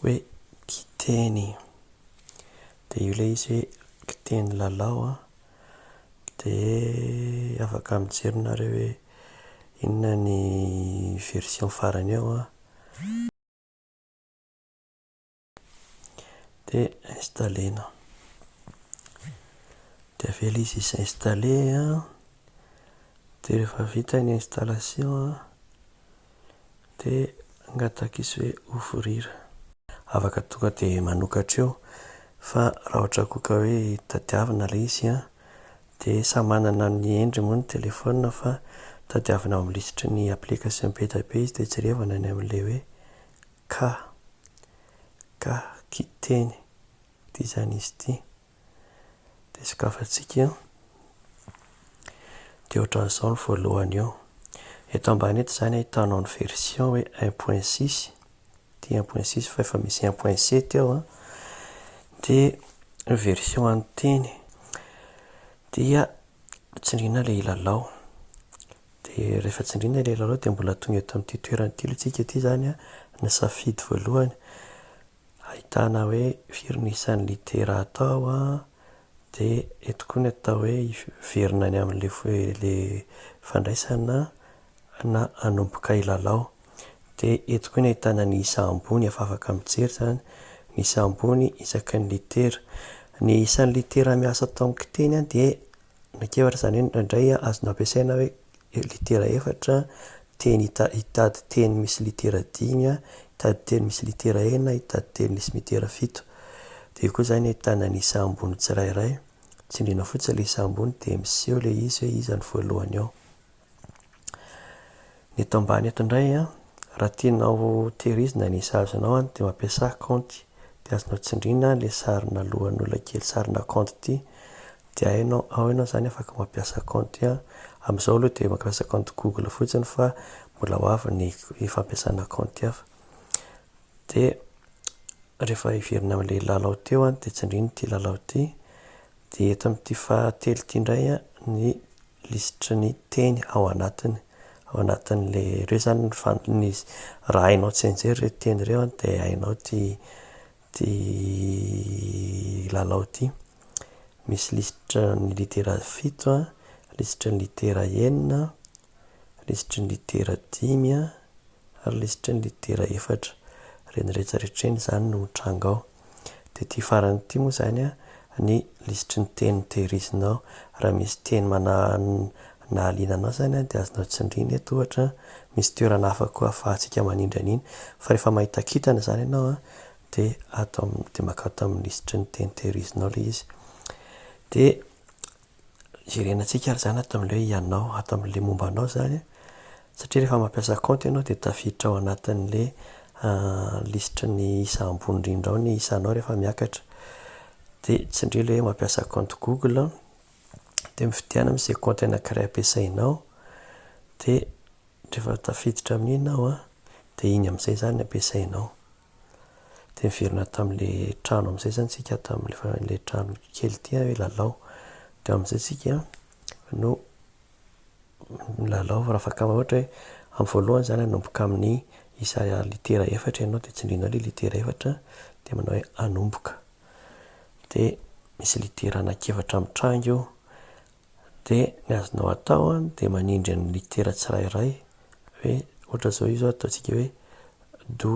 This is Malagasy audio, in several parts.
hoe kiteny dia io ilay izy hoe kiteny lalao an, dia afaka mijery nareo hoe inona ny version farany eo an, dia installer-na. Dia avela izy hi-s'installer an, dia rehefa vita ny installation an. de angatak'izy hoe ho vorira. Afaka tonga de manokatra eo fa raha ohatra koa ka hoe tadiavina ilay izy an, de samy manana ny endriny moa ny telephone fa tadiavina ao amin'ny lisitry ny application be dia be izy de jerevana any amin'ilay hoe ka, ka, kiteny, de izany izy ity. dia sokafantsika dia ohatran'izao ny voalohany eo. Eto ambany eto izany ahitanao ny version hoe 1.6 dia 1.6 fa efa misy 1.7 eo an dia ny version an'ny teny dia tsindriana ilay ilalao dia rehefa tsindriana ilay ilalao dia mbola tonga eto amin'ity toerana ity aloha isika ity izany an ny safidy voalohany Ahitana hoe firy ny isan'ny litera atao a, dia eto koa ny atao hoe hiverina any amin'ilay ilay fandraisana na hanomboka hilalao. Dia eto koa ny ahitana ny isa ambony efa afaka mijery izany, ny isa ambony isaky ny litera. Ny isan'ny litera miasa tao amin'ny kiteny dia Miankiefatra izany hoe indraindray azonao ampiasaina hoe litera efatra, teny hita- hitady teny misy litera dimy, hitady teny misy litera enina, hitady teny misy litera fito. Dia eo koa izany ny ahitana ny isa ambony tsirairay. Tsindriana fotsiny ilay isa ambony dia miseho ilay izy hoe iza no voalohany ao. Ny eto ambany eto indray a, raha tianao tehirizina ny sazinao a, dia mampiasà kaonty. Dia azonao tsindriana le sarina lohan'olona kely sarina kaonty ity. Dia hainao, ao ianao izany afaka mampiasa kaonty a. Amin'izao aloha dia mampiasa kaonty Google fotsiny fa mbola ho avy ny ny fampiasana kaonty hafa. Dia rehefa hiverina amin'ilay lalao teo a, dia tsindriana ity lalao ity. Dia eto amin'ity fahatelo ity indray ny lisitry ny teny ao anatiny. Ao anatin'ilay, ireo izany ny fan- ny, raha hainao tsy enjery ireto teny ireo an, dia hainao ity ity lalao ity. Misy lisitry ny litera fito an, lisitry ny litera enina, lisitry ny litera dimy an, ary lisitry ny litera efatra. Ireny rehetra rehetra ireny izany no mitranga ao. Dia ity farany ity moa izany ny lisitry ny teny tehirizinao. Raha misy teny manahaliana anao izany dia azonao tsindrina eto ohatra. Misy toerana hafa koa ahafahantsika manindry an'iny. Fa rehefa mahita kintana izany ianao dia atao, dia mankao tamin'ny lisitry ny teny tehirizinao ilay izy. Dia jerenantsika ary izany ato amin'ilay hoe ianao, ato amin'ilay momba anao izany an, satria rehefa mampiasa kaonty ianao dia tafiditra ao anatin'ilay lisitry ny isa ambony indrindra ao ny isanao rehefa miakatra. Dia tsindrio ilay hoe mampiasa kaonty google an, dia mifidianao izay kaonty anakiray ampiasainao, dia rehefa tafiditra amin'iny ianao an, dia iny amin'izay izany no ampiasainao. Dia niverina tamin'ilay trano amin'izay izany isika, tamin'ilay fa- ilay trano kely ity hoe lalao. Dia amin'izay isika no nilalao raha afaka ohatra hoe amin'ny voalohany izany hanomboka amin'ny isa litera efatra ianao dia tsindrinao ilay litera efatra dia manao hoe hanomboka. Dia misy litera anankiefatra mitranga eo, Dia ny azonao atao an dia manindry ny litera tsirairay hoe ohatra zao io zao ataontsika hoe do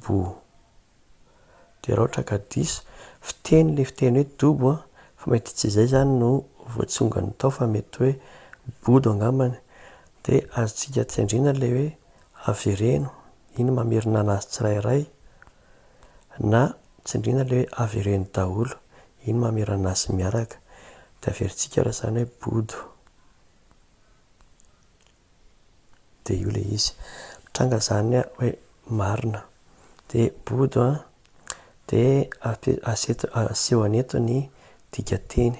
bo dia raha ohatra ka diso fiteny ilay fiteny hoe dobo an fa mety tsy izay izany no voatsongany tao fa mety hoe bodo angambany dia azontsika tsy andriana ilay hoe avereno iny mamerina an'azy tsirairay Na tsindriana le avereno daholo iny mamiranazy miaraka de averintsika raha zany hoe bodo de io le izy mitranga zany a hoe marina de bodo a de aseho aneto ny dikateny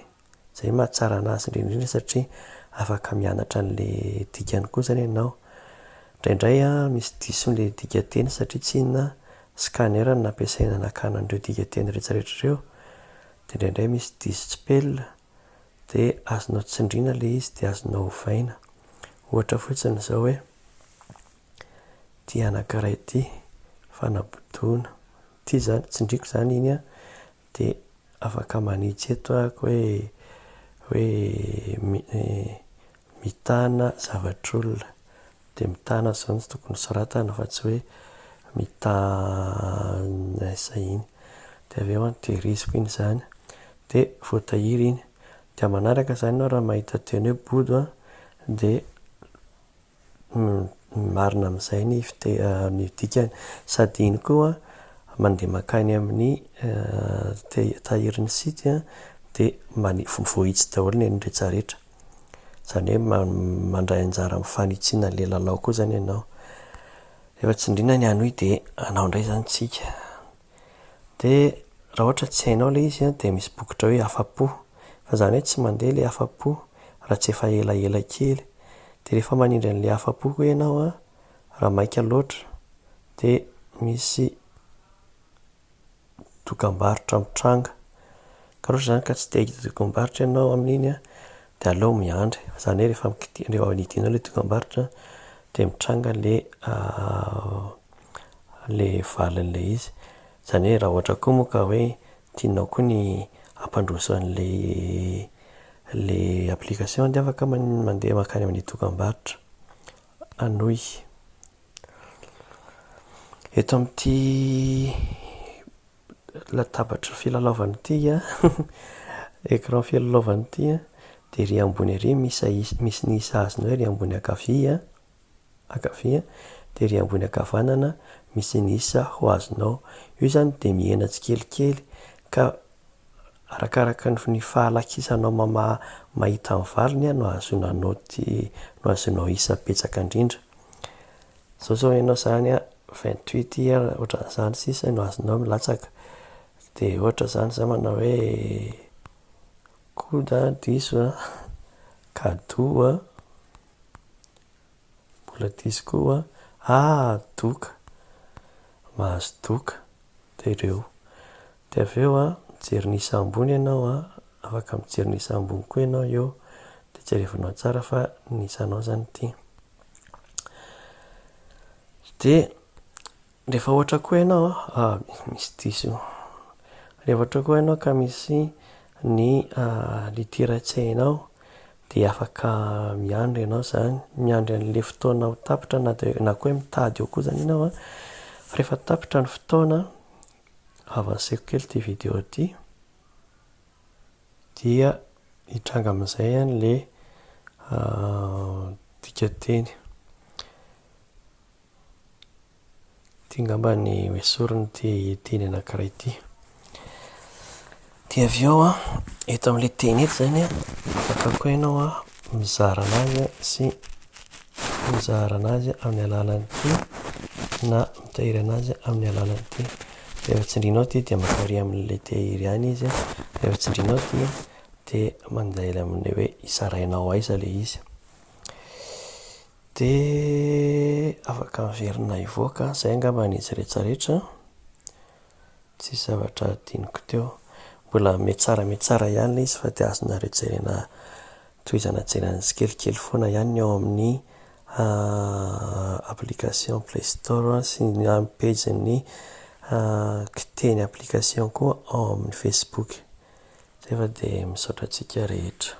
Izay no mahatsara anazy indrindra satria afaka mianatra an'ilay dikany koa izany ianao. Indraindray misy diso amin'ilay dikanteny satria tsy inona, scanner no nampiasaina nakana an'ireo dikanteny rehetrarehetra ireo, dia indraindray misy diso tsipelina, dia azonao tsindriana ilay izy dia azonao ovaina. Ohatra fotsiny izao hoe, ity anankiray ity, fanabodoana. Ity izany, tsindriako izany iny an! Dia afaka manitsy eto aho hoe hoe mitana zavatr'olona. Dia mitana izao no tokony hosoratana fa tsy hoe mitana izay iny. Dia avy eo an, tehiriziko iny izany. Dia voatahiry iny. Dia manaraka izany ianao raha mahita teny hoe bodo an, dia ny marina amin'izay ny ny dikany, sady iny koa mandeha mankany amin'ny tahirin'ny site dia mani- voahitsy daholo ny an'ny rejaretra, izany hoe ma- mandray anjara amin'ny fanitsiana an'ilay lalao koa izany ianao, nefa tsindriana ny hanohy dia hanao indray izany isika. Dia raha ohatra tsy hainao ilay izy dia misy bokotra hoe afa-po. Fa izany hoe tsy mandeha ilay afa-po raha tsy efa elaela kely. Dia rehefa manindry an'ilay afa-po koa ianao an, raha maika loatra dia misy dokam-barotra mitranga. Ka raha ohatra izany ka tsy te hahita dokam-barotra ianao amin'iny an, dia aleo miandry. Fa izany hoe rehefa, rehefa nidinao ilay dokam-barotra dia mitranga ilay le valiny le izy, zany hoe raha ohatra koa moa ka hoe tianao koa ny hampandroso anle le application de afaka mandeha makany amin'ny dokambarotra hanohy. Eto amin'ity latabatry ny filalaovana ity an, écran filalaovana ity an, dia ery ambony ery misy ny sahazinao ery ambony ankavia an. ankavia, dia ery ambony ankavanana misy ny isa ho azonao. Io izany dia mihena tsikelikely ka arakaraka ny fahalakisanao mamaha mahita ny valiny no ahazoana naoty, no ahazoanao isa betsaka indrindra. Izao izao ianao izany vingt huit ian, ohatran'izany sisa no azonao milatsaka. Dia ohatra izany za manao hoe coude an, diso an, cadeau an. Mbola diso koa hoa. Ah! Doka! Mahazo doka dia ireo. Dia avy eo an, mijery ny isa ambony ianao an, afaka mijery ny isa ambony koa ianao eo, dia jerevanao tsara fa ny isanao izany ity. Dia. Rehefa ohatra koa ianao a, misy diso, rehefa ohatra koa ianao ka misy ny litera tsy hainao dia afaka miandry ianao izany, miandry an'ilay fotoana ho tapitra na dia na koa hoe mitady eo koa izany ianao a, fa rehefa tapitra ny fotoana, avanceko kely ity video ity, dia hitranga amin'izay an'ilay dikanteny. Ity ngamba ny esoriny ity teny anankiray ity. Dia avy eo an, eto amin'ilay teny eto izany an, afaka koa ianao an mizara an'azy sy mizara an'azy amin'ny alalan'ity na mitahiry an'azy amin'ny alalan'ity. Rehefa tsindrinao ity dia mankaria amin'ilay tehiry any izy, rehefa tsindrinao ity dia mandeha amin'ilay hoe izarainao aiza ilay izy. Dia afaka miverina hivoaka an! Izay angamba ny izy rehetra rehetra an! Tsisy zavatra hadinoko teo. Mbola mihatsara mihatsara ihany ilay izy fa dia azonareo jerena tohizana jerena tsikelikely foana ihany ny ao amin'ny application play store sy ny amin'ny page ny kiteny application koa ao amin'ny facebook. Izay fa dia misaotra antsika rehetra.